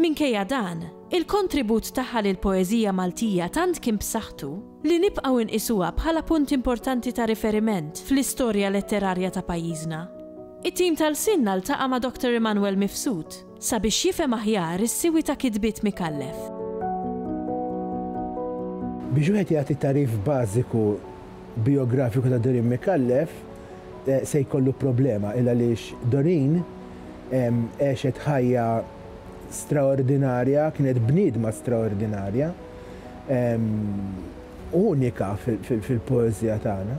Minkejja dan, il-kontribut tagħha lill-poeżija Maltija tant kien b'saħħtu li nibqgħu nqisuha bħala punt importanti ta' riferiment fl-istorja letterarja ta' pajjiżna. It-tim ta' Lsienna ltaqa' ma' Doctor Immanuel Mifsud sabiex jifhem aħjar is-siwi ta' kitbiet Micallef. Biex wieħed jagħti tagħrif bażiku bijografiku ta' Doreen Micallef se jkollu problema il-għaliex Doreen għexet ħajja straordinarja, kienet bniedma straordinarja, unika fil-poeżija tagħna.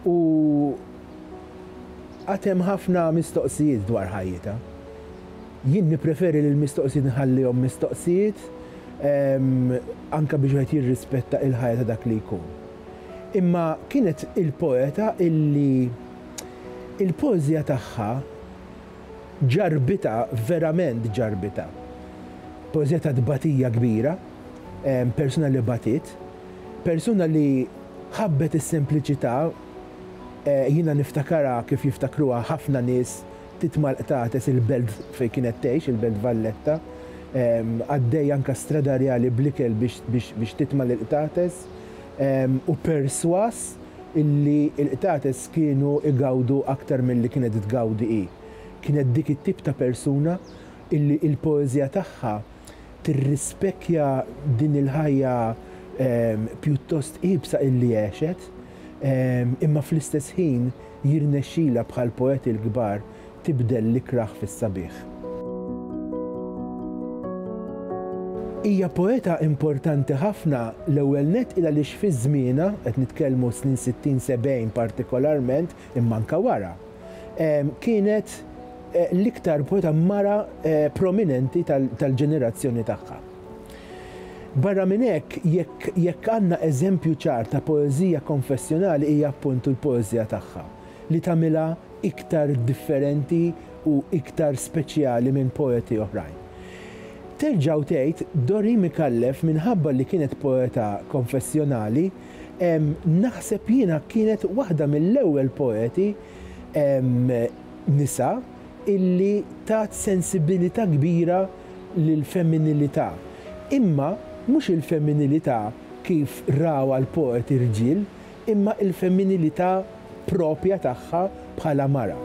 U għad hemm ħafna mistoqsijiet dwar ħajjitha. Jien nippreferi li l-mistoqsijiet nħallihom mistoqsijiet anke biex wieħed jirrispetta l-ħajja ta' dak li jkun. Imma kienet il-poeta illi Il-poeżija tagħha ġarrbitha, verament ġarrbitha. Poeżija ta' tbatija kbira, persuna li batiet, persuna li ħabbet is-sempliċità, jiena niftakarha kif jiftakruha ħafna nies ftit mal-qtates il-belt fejn kienet tgħix, il-belt Valletta, għaddejja anke stradarjali bl-ikel biex titma' lill-qtates u persważ, illi l-qtates kienu igawdu aktar milli kienet tgawdi hi. Kienet dik it-tip ta' persuna illi l-poeżija tagħha tirrispecchja din il-ħajja pjuttost iebsa illi għexet, imma fl-istess ħin jirnexxilha bħall-poeti l-kbar tibdel l-ikrah fis-sabiħ. Hija poeta importanti ħafna, l-ewwel nett il-għaliex fi żmienha, qed nitkellmu s-snin sittin, sebgħin partikolarment, imma anke wara, kienet l-iktar poeta mara prominenti tal-ġenerazzjoni tagħha. Barra minn hekk, jekk għandna eżempju ċar ta' poeżija konfessjonali hija appuntu l-poeżija tagħha. li tagħmilha iktar differenti u iktar speċjali minn poeti oħrajn. Terġa' u tgħid, Dori Micallef minħabba li kienet poeta konfessjonali, naħseb jiena kienet waħda mill-ewwel poeti nisa illi tat sensibilità kbira lill-femminilità, imma mhux il-femminilità kif rawha l-poeti rġiel, imma il-femminilità proprja tagħha bħala mara.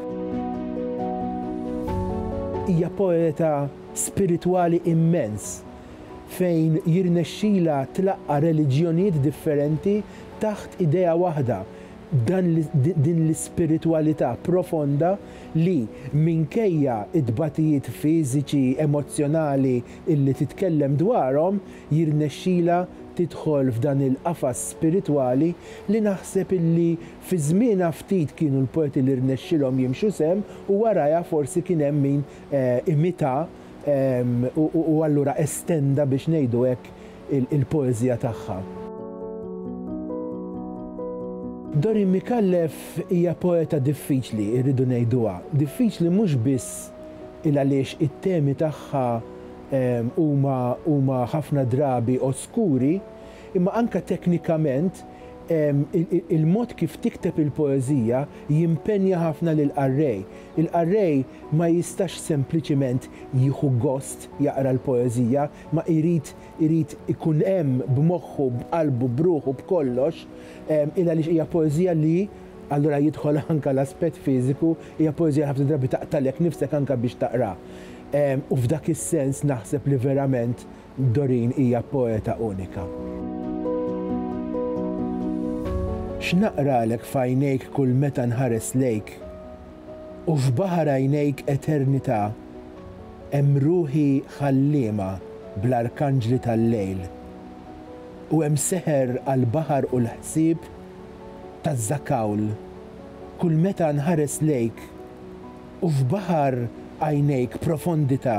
Hija poeta spiritwali immens fejn jirnexxilha tlaqqa' reliġjonijiet differenti taħt idea waħda, dan din l-ispiritwalità profonda li, minkejja t-tbatijiet fiżiċi, emozzjonali illi titkellem dwarhom, jirnexxilha tidħol f'dan il-qafas spiritwali li naħseb illi fi żmienha ftit kienu l-poeti li rnexxilhom jimxu sehem u warajha forsi kien hemm min imitha u allura estenda biex ngħidu hekk il-poeżija tagħha. Dorin Micallef hija poeta diffiċli, irridu ngħiduha. Diffiċli mhux biss il-għaliex it-temi tagħha huma ħafna drabi oskuri, imma anke teknikament il-mod kif tikteb il-poeżija jimpenja ħafna lill-qarrej. Il-qarrej ma jistax sempliċiment jieħu gost jaqra l-poeżija, ma jrid irid ikun hemm b'moħħu, b'qalbu, b'ruħu, b'kollox, il għaliex hija poeżija li, allura jidħol anke l-aspett fiżiku, hija poeżija li ħafna drabi taqtagħlek nifsek anke biex taqraha. U f'dak is-sens naħseb li verament Doreen hija poeta unika. X'naqralek f'għajnejk kull meta nħares lejk U f'baħar għajnejk eternità Hemm ruħi ħalliema bl-arkanġli tal-lejl U hemm seħer għall-baħar u l-ħsieb taż-żakawl Kull meta nħares lejk U f'baħar għajnejk profondità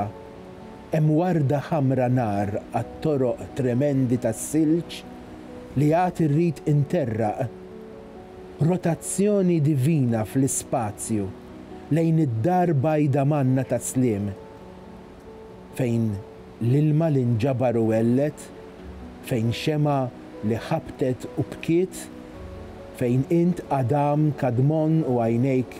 hemm warda ħamra nar għat-toroq tremendi tas-silġ li għad irrid interraq. Rotazzjoni divina fl-ispazju lejn id-dar bajda manna ta' sliem, fejn l-ilma li nġabar u għellet, fejn xemgħa li ħabtet u bkiet, fejn int Adam, Kadmon u għajnejk